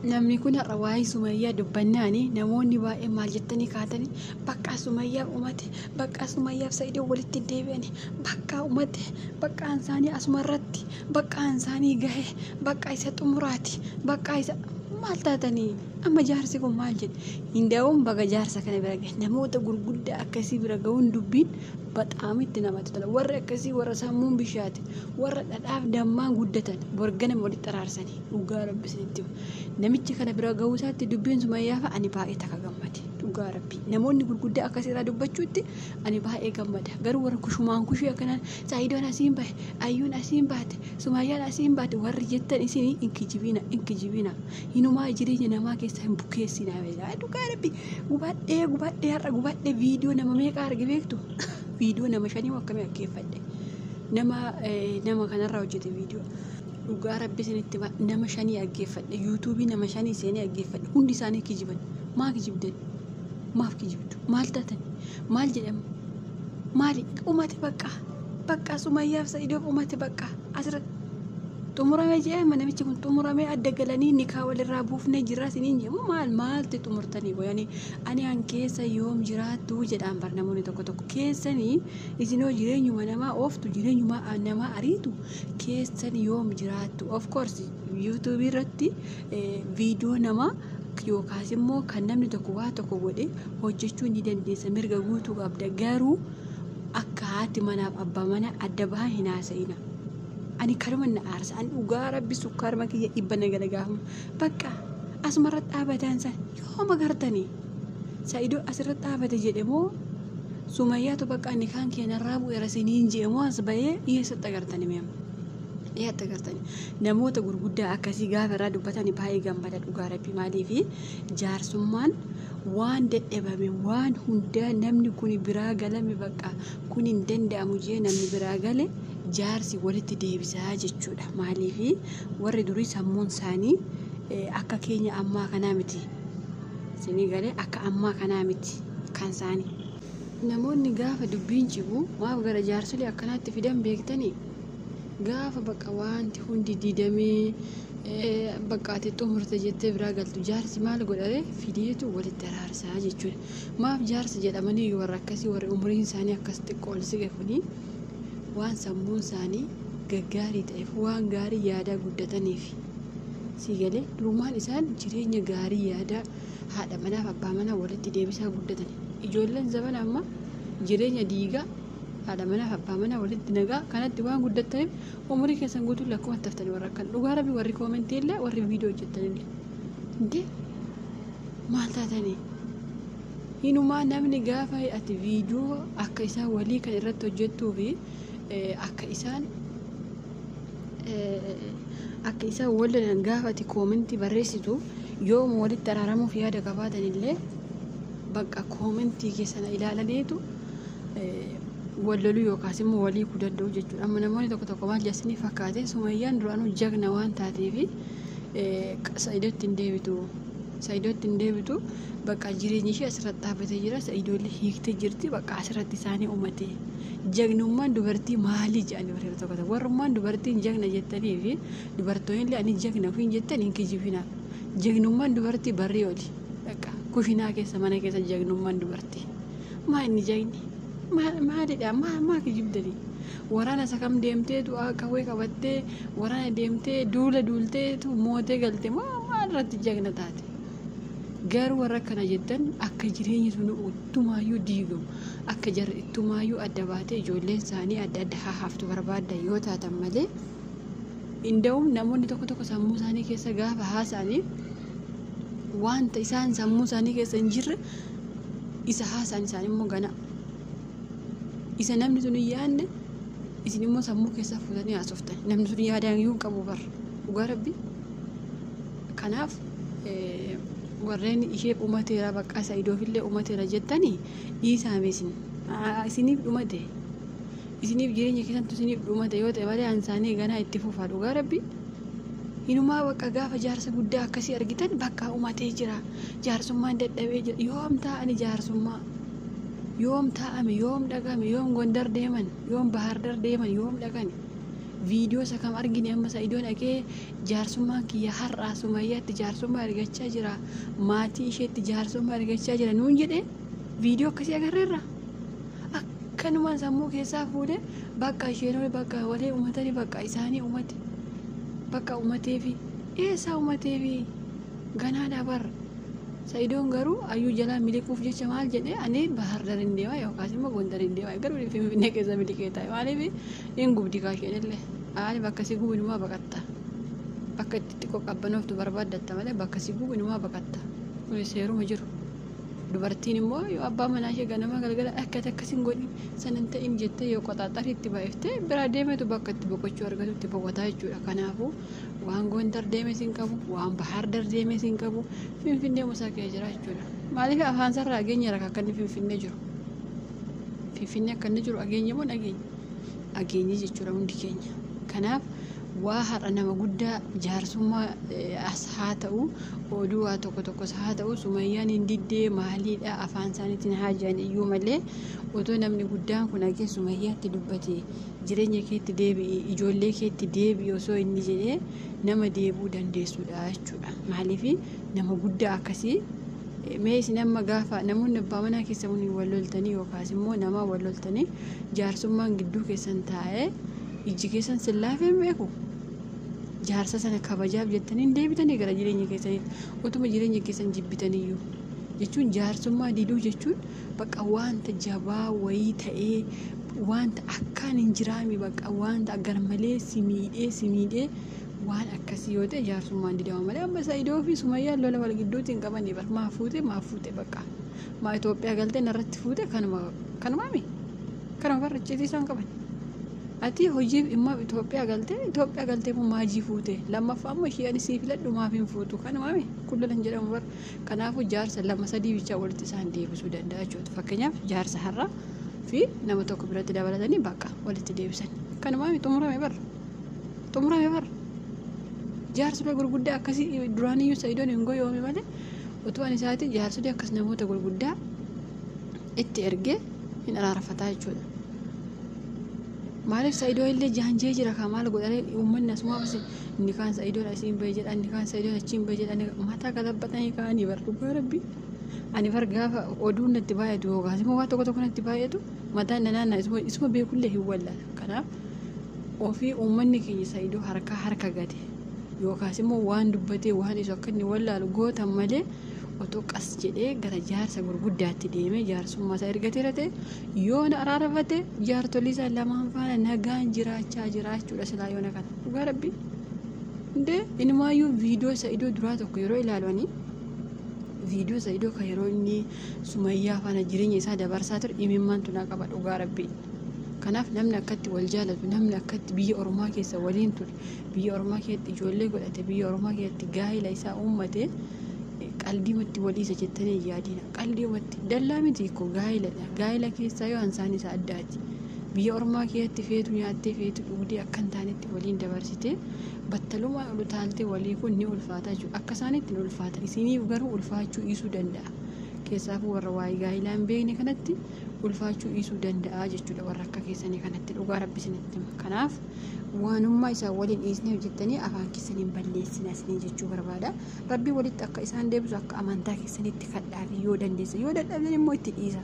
Namni kun har'a waa'ee Sumayyaa dubbannaani namoonni baay'een maal jettanii kaatanii baqqaa Sumayyaaf umate baqqaa Sumayyaaf Sa'idoo walitti deebi'anii baqqaa umate baqqaan isaanii asuma irratti baqqaan isaanii gahe baqqaa isa xumuraati baqqaa isa maal taatanii amma jaarsi kun maal jedhe hindaa'uun baga jaarsa kana bira gahe namoota gurguddaa akkasii bira ga'uun dubbiin baxaam itti namatti tola warri akkasii warra sammuun bishaate warra dhadhaaf dammaan guddatan borgana walitti araarsanii Dhugaa rabbi isinitti hima. Namicha kana bira gahuu isaatti dubbiin Sumayyaafa ani baay'ee takka gammade. Dhugaa rabbi. Namoonni gurguddaa akka seeraa dubbachuutti ani baay'ee gammada. Garuu warra kushumaan kushii akkanaan Saayidoon asiin bahe, Ayyuun asiin baate, Sumayyaan asiin baate warri jettan isin hin kijibiina, hin kijibiina. Hinumaa jireenya namaa keessaa hin bukeessiina. Yaa Dhugaa rabbi gubadhee gubadhee har'a gubadhee viidiyoo nama meeqaa arge beektu? Viidiyoo nama shanii akkamii akkeeffadhe. Nama eh, nama kanarraa hojjete viidiyoo. dhugaa rabbi isinitti hima nama shanii dhaggeeffadhe yuutuubii nama shanii seenee dhaggeeffadhe hundi isaanii kijiban maa kijibdan maaf kijibdu maal taatan maal jedhama maali dhumate baqqaa baqqaa sumayyaaf sa'idoof dhumate baqqaa asirra xumuramee jedhama namichi kun xumuramee adda galanii nikaa walirraa buufnee jirraa isiniin jedhamu maal maalti xumurtanii qoyanii ani an keessa yoom jiraattu jedhaan bar namoonni tokko tokko keessanii isinoo jireenyuma namaa ooftu jireenyuma namaa ariitu keessan yoom jiraattu of course yuutuubii irratti viidiyoo namaa yookaas immoo kan namni tokko waa tokko godhe hojjechuu ni dandeessa mirga guutuu qabda garuu akka haati manaaf abbaa manaa adda bahaa hin haasa'ina. Ani karuma na aarsa ani dhugaa rabbi sukkaaruma kiyya dhibba na gala gaafuma bakka asuma irratti dhaabataan san yooma gartanii. Sa'ido asirratti dhaabate jedhe moo Sumayyaatu baqqaa nikaan kee narraa bu'eera siniin je'e moo as bahee eessatti agartani mee amma? Eessatti agartani? Namoota gurguddaa akkasii gaafa irraa dubbatani baay'ee gammada dhugaa rabbi maaliifi jaarsummaan waan dadhabame waan hundaa namni kuni biraa galame baqqaa kun hin danda'amu jee namni biraa gale jaarsi walitti deebisaa jechuudha maaliifi warri durii sammuun isaanii akka keenya ammaa kanaa miti. Isinii galee akka ammaa kanaa miti kan isaanii. Namoonni gaafa dubbiin cibu maaf gara jaarsolii akkanaatti fidan beektanii? Gaafa bakka waanti hundi didamee bakka ati xumurte jettee biraa galtu jaarsi maal godhare fideetu walitti araarsaa jechuudha. Maaf jaarsa jedhamanii warra akkasii warri umriin isaanii akkas xiqqoo ol siqe kuni waan sammuun isaanii gaggaarii ta'eef waan gaarii yaadaa guddataniifi. Sii galee? Durumaan isaan jireenya gaarii yaadaa haadha manaa fi abbaa manaa walitti deebisaa guddatan. Ijoolleen zabana ammaa jireenya diigaa haadha manaa fi abbaa manaa walitti nagaa kanatti waan guddattaniif umurii keessan guutuun lakkumatti haftanii warra akkan dhugaa rabbi warri koomentii illee warri viidiyoo hojjettan illee. Dee maal taatanii? Hinumaa namni gaafa ati viidiyoo akka isaan walii kan irratti hojjettuu fi akka isaan akka isaan wal lolan gaafa ati koomentii barreessitu yooma walitti araaramuuf yaada qabaatan illee bakka koomentii keessana ilaalaniitu wal loluu yookaas immoo walii kuu danda'u jechuudha. Amma namoonni tokko tokko maal jasanii fakkaate sumayyaan duraanuu jagna waan taateefi sa'idootti hin deebitu. Sa'idootti hin deebitu bakka jireenyi ishee asirratti dhaabbatee jira. Sa'idoollee hiiktee jirti bakka asirratti isaanii uumatee. Jagnummaan dubartii maalii jedhanii warri tokko tokko warrummaan dubartiin jagna jettanii fi dubartoonni ani jagna ofiin jettan hin kijibinaa. Jagnummaan dubartii barrii oli. Dhaqa kushinaa keessa mana keessa jagnummaan dubartii. Maa inni jagni? Maalidha? Maa maa kijibdanii? Waraana isa kam deemtee du'aa qawwee qabattee waraana deemtee duula duulteetu mootee galte moo maal irratti jagna taate? Garuu warra akkana jettan akka jireenyi sun uttumaayyuu diigamu. akka jarri ittumaayyuu adda baatee ijoolleen isaanii adda adda haa haftu barbaaddan yoo taatan malee inda'uun namoonni tokko tokko sammuu isaanii keessa gaafa haasa'anii wanta isaan sammuu isaanii keessa hin jirre isa haasa'an isaan immoo gana isa namni sun hin yaadne isin immoo sammuu keessaa fuutanii haasoftan namni sun yaadaan iyyuu hin qabu bar dhugaa rabbi Kanaaf warreen ishee dhumateera bakka sa'idoofillee dhumateera jettanii dhiisaame isin isiniif dhumate isiniif jireenya keessantu isiniif dhumate yoo ta'e malee ansaanii ganaa itti fufaa dhugaa rabbi hinumaa bakka gaafa jaarsa guddaa akkasii argitan bakka dhumatee jira jaarsummaan dadhabee jira yoom taa'ani jaarsummaa yoom taa'ame yoom dhaqame yoom gondar deeman yoom bahaardar deeman yoom dhaqani viidiyoo isa kam argine amma sa'idoon dhaqee jaarsummaan kiyya har'aa sumayyaatti jaarsummaa argachaa jira maatii isheetti jaarsummaa argachaa jira nuun jedhe viidiyoo akkasii agarreerra akkanumaan sammuu keessaa fuudhe bakka isheen oli bakka walee umatani bakka isaanii umate bakka umateefi eessaa umateefi ganaa dhabar sa'idoon garuu ayyuu jalaa miliquuf jecha maal jedhe ani bahar darin deema yookaas immoo gondarin deema garuu finfinnee keessa miliqee taa'e maaliif hin gubdi kaasheenillee. Aali bakka si gubu inumaa baqatta. Bakka itti xiqqoo qabbanooftu barbaaddatta malee bakka si gubu inumaa baqatta. Kuni seeruma jiru. Dubartiin immoo yoo abbaa manaa ishee ganama galgala akka ati akkas hin godhin san hin ta'in jettee yoo qoxaaxarii itti baay'iftee biraa deemetu bakka itti boqochuu argatutti boqotaa jechuudha. Kanaafuu waan Gondar deemes hin qabu, waan Bahaar Dar deemes hin qabu, Finfinnee musaa kee jira jechuudha. Maaliif afaan isaarraa ageenyeera akka inni Finfinnee jiru. Finfinnee akka inni jiru ageenye moo hin ageenye? dhageenye jechuudha hundi keenya. Kanaaf waa har'a nama guddaa jaarsummaa eh, as haa ta'u oduu waa tokko tokkos haa ta'u sumayyaan hin diddee maaliidha afaan isaaniitiin haa jiran iyyuu malee otoo namni guddaan kun agee sumayyaatti dubbate jireenya keetti deebi'i ijoollee keetti deebi'i osoo inni jedhee nama deebi'uu dandeessuudha jechuudha maaliif nama guddaa akkasii mee isin amma gaafa namoonni abbaa manaa keessa waliin wal loltanii yookaas immoo namaa wal loltanii jaarsummaan gidduu keessan taa'ee ijji keessan sin laafee hin beeku jaarsa sana kabajaaf jettanii hin deebitanii gara jireenya keessaniitti utuma jireenya keessan jibbitaniyyuu jechuun jaarsummaa diduu jechuun bakka wanta jabaa wayii ta'ee wanta akkaan hin jiraami bakka wanta garmalee si miidhee si miidhee Waan akkasii yoo ta'e jaarsummaan didama malee amma Sa'idoo fi Sumayyaan lola wal gidduutti hin qabanii bar maa fuute maa fuute bakka maa Itoophiyaa galtee narratti fuute kanuma kanumaami kanuma barra icciitii isaan qaban. Ati hojii immoo Itoophiyaa galtee Itoophiyaa galtee immoo maajii fuute lammaffaa immoo ishee ani sii filadhu maaf hin fuutu kanumaami kun lolan jedhamu bar kanaafuu jaarsa lama sadii bichaa walitti isaan deebisuu danda'a jechuudha fakkeenyaaf jaarsa har'aa fi nama tokko biratti dabalatanii bakka walitti deebisan kanumaami xumurame barra. xumurame bar jaarsolee gurguddaa akkasii duraaniyyuu sa'idoon hin goyoome malee utuu ani isaati jaarsolee akkas namoota gurguddaa itti ergee hin araarfataa jechuudha. Maaliif sa'idoo illee jaanjee jira kaa maal godhanii uummanni asumaa basi inni kaan sa'idoon asii hin bahe jedha inni kaan sa'idoon achi hin bahe jedha inni mataa galabbatanii kaanii bar dhugaa rabbi. Ani bar gaafa oduun natti baay'atu yookaas immoo waan tokko tokko natti baay'atu mataan na naannaa isuma beekullee hin wallala kanaaf. Ofii uummanni keenya Sa'idoo harkaa harka gate yookaas immoo waan dubbatee waan isu akka inni wallaalu gootan malee otoo qas jedhee gara jaarsa gurguddaatti deemee jaarsummaa isaa ergateera ta'e yoona araarfate jaartolii isaa lamaan faana nagaan jiraachaa jiraachuudha silaa yoona kana dhugaa rabbi hundee inumaayyuu viidiyoo Sa'idoo duraa tokko yeroo ilaalu ani viidiyoo Sa'idoo kan yeroo inni sumayyaa faana jireenya isaa dabarsaa ture imimmaan tunaa qaba dhugaa rabbi. Kanaaf namni akkatti wal jaalatu, namni akkatti biyya ormaa keessa waliin ture, biyya ormaa keessatti ijoollee godhate, biyya ormaa keessatti gaa'ila isaa uummate qaldiimatti waliisa jettanii hin yaadina. Qaldiimatti dallaa miti koo gaa'iladha. Gaa'ila keessaa yoo ansaan isa addaati. Biyya ormaa keessatti feetu nyaattee feetu dhugdee akka hin taanetti waliin dabarsitee battalumaan ol utaaltee walii kun ni ulfaata jechuudha. Akka isaanitti ni ulfaata. Isiniif garuu ulfaachuu dhiisuu danda'a. Keessaafuu warra waa'ee gaa'ilaa hin beekne kanatti ulfaachuu dhiisuu danda'a jechuudha warra akka keessanii kanatti dhugaa rabbi isinitti hima kanaaf waanummaa isaan waliin dhiisnee hojjettanii afaan keessaniin balleessina isinii jechuu barbaada rabbi walitti akka isaan deebisu akka amantaa keessanitti kadhaafi yoo dandeessan yoo dadhabdan immoo itti dhiisa